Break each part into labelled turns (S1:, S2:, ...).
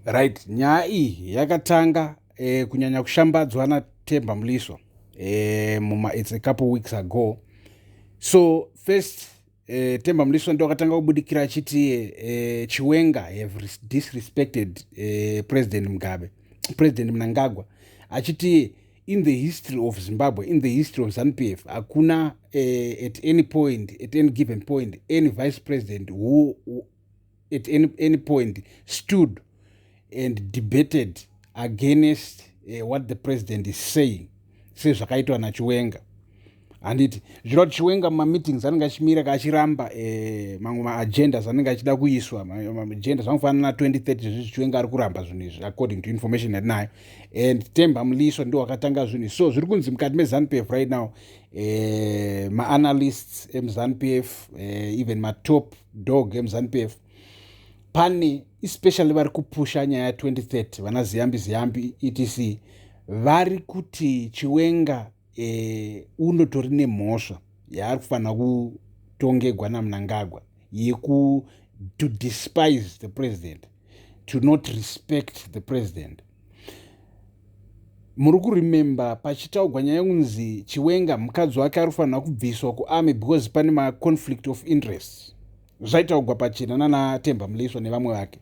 S1: right nyaya iyi yakatanga eh, kunyanya kushambadzwa natemba muliswa eh, muma it's a couple weeks ago so first eh, temba muliswa ndo akatanga kubudikira achiti eh, chiwenga have disrespected eh, president mugabe president mnangagwa achiti in the history of zimbabwe in the history of zanupf hakuna eh, at any point at any given point any vice president who, who at any, any point stood and debated against uh, what the president is saying sezvakaitwa nachiwenga handiti zviro kuti chiwenga mumameetings anenge achimira kaachiramba eh, mamwe maagendas anenge achida kuiswa maagendas anofanana na 2030 zvezvi chiwenga ari kuramba zvinhu izvi according to information yatinayo and temba muliso ndo wakatanga zvinhu izvi so zviri kunzi mukati mezanup f right now eh, maanalysts emzanup f eh, even matop dog emuzanu pf pane especially vari kupusha nyaya 2030 vana ziyambi ziyambi etc vari kuti chiwenga e, unotori nemhosva yaari kufanira kutongegwa namunangagwa yeku to despise the president to not respect the president muri kuremembe pachitaugwa nyaya kunzi chiwenga mukadzi wake ari kufanira kubviswa kuarmy because pane maconflict of interest zvaitaugwa pachena nanatemba muleiswa nevamwe vake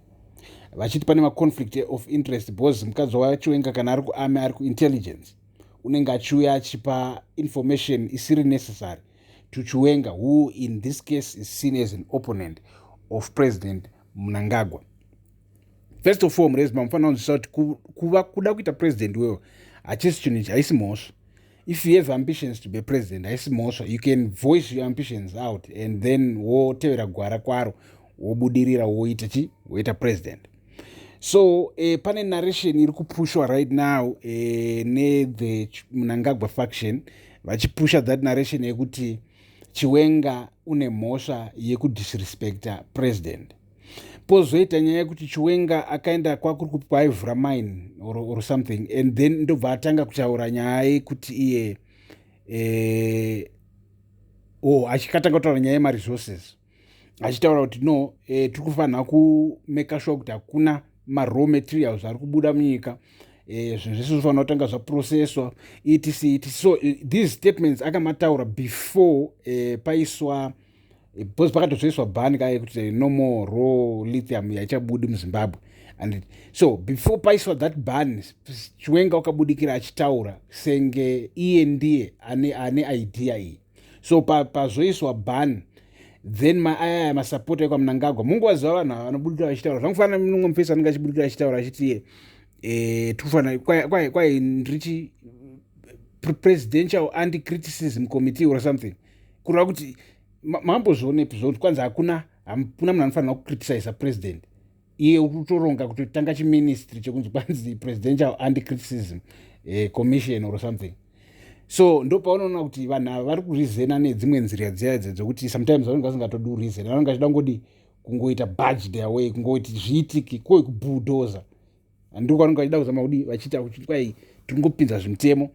S1: vachiti pane maconflict of interest because mukadzi wachiwenga kana ari kuarmy ari kuintelligence unenge achiuya achipa information isiri necessary to chiwenga who in this case is seen as an opponent of president munangagwa first of all murezi mamufanira kunzwisisa kuti kuva kuda kuita president wewo hachisi chinhu ichi haisi mhosva if you have ambitions to be president haisi mhosva you can voice your ambitions out and then wotevera gwara kwaro wobudirira woita chi woita president so eh, pane narration iri kupushwa right now eh, nethe munangagwa faction vachipusha that narration yekuti chiwenga une mhosva yekudisrespecta president pozoita nyaya yekuti chiwenga akaenda kwakuri kupi kwaivhura mine or, or something and then ndobva atanga kutaura nyaya yekuti iye eh, o oh, achikatanga kutaura nyaya yemaresources achitaura kuti no eh, tiri kufanira kumeka shuwa kuti hakuna maraw materials ari kubuda munyika eh, zvinhu zvese zvofanira kutanga zvaprocesswa etc etc so eh, these statements akamataura before eh, paiswa because pakatozoiswa ban ka yekuti no more raw lithium yaichabudi muzimbabwe and so before paiswa that ban chiwenga wakabudikira achitaura senge iye ndiye ane, ane idea iyi so pazoiswa pa ban then maaya masapota ekwamunangagwa munguva ziva vanhu ava vanobudikira vachitaura zvangofanana mumwe mufesi anenge achibudikira achitaura achiti iye eh, tikufanira kwai ndrichi presidential anti criticism committee or something e, kureva kuti mambozvionepi zvokuti kwanzi hakuna hakuna munhu anofanira kucriticisa president iye ukutoronga kuti tanga chiministry chekunzi kwanzi presidential anti criticism eh, commission or something so ndo paunoona kuti vanhu ava vari kurizena nedzimwe nzira dziya idzi dzokuti sometimes vanenge vasingatodi kurizena vanenge vachida kungodi kungoita budge their way kungoti zviitiki koi kubudoza handiko kwanenge vachida kuzama kudi vachiita kuti kwai tingopinza zvimutemo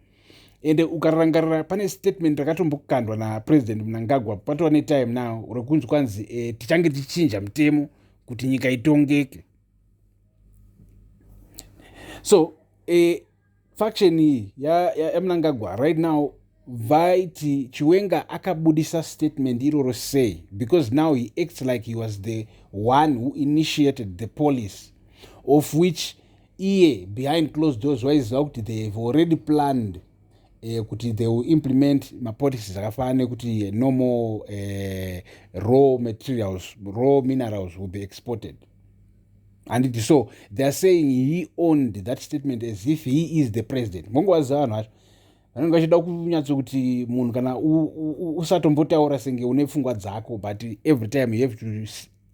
S1: ende ukarangarira pane statement rakatombokandwa napresident munangagwa patova netime now rekunzi kwanzi e, tichange tichichinja mutemo kuti nyika itongeke so e, faction iyi yamnangagwa ya, ya right now vaiti chiwenga akabudisa statement iroro sei because now he acts like he was the one who initiated the police of which iye behind closed doors waiziva kuti they have already planned eh, kuti they will implement mapolicies akafanana nekuti eh, normal eh, raw materials raw minerals will be exported handiti so theyare saying he owned that statement as if he is the president mongovaziva vanhu vacho vanenge vachida kunyatso kuti munhu kana usatombotaura senge une pfungwa dzako but every time you have to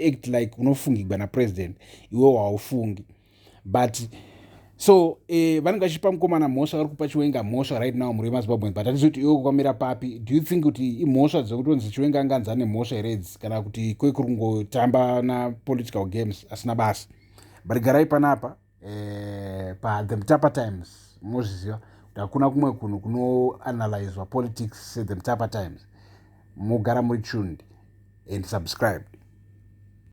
S1: act like unofungigwa napresident iwe waufungi but so eh, vanenge vachipa mukomana mhosva vari kupa chiwenga mhosva right now mhuri yemazimbabwean but hatisi kuti iwe kukamira papi do you think kuti imhosva dzekutonzi chiwenga anga anzi ane mhosva here idzi kana kuti kwe kuri kungotamba napolitical games asina basa but garai panapa eh, pathe mutapa times mozviziva kuti hakuna kumwe kunhu kunoanalyswa politics sethe mutapa times mogara muri tuned and subscribed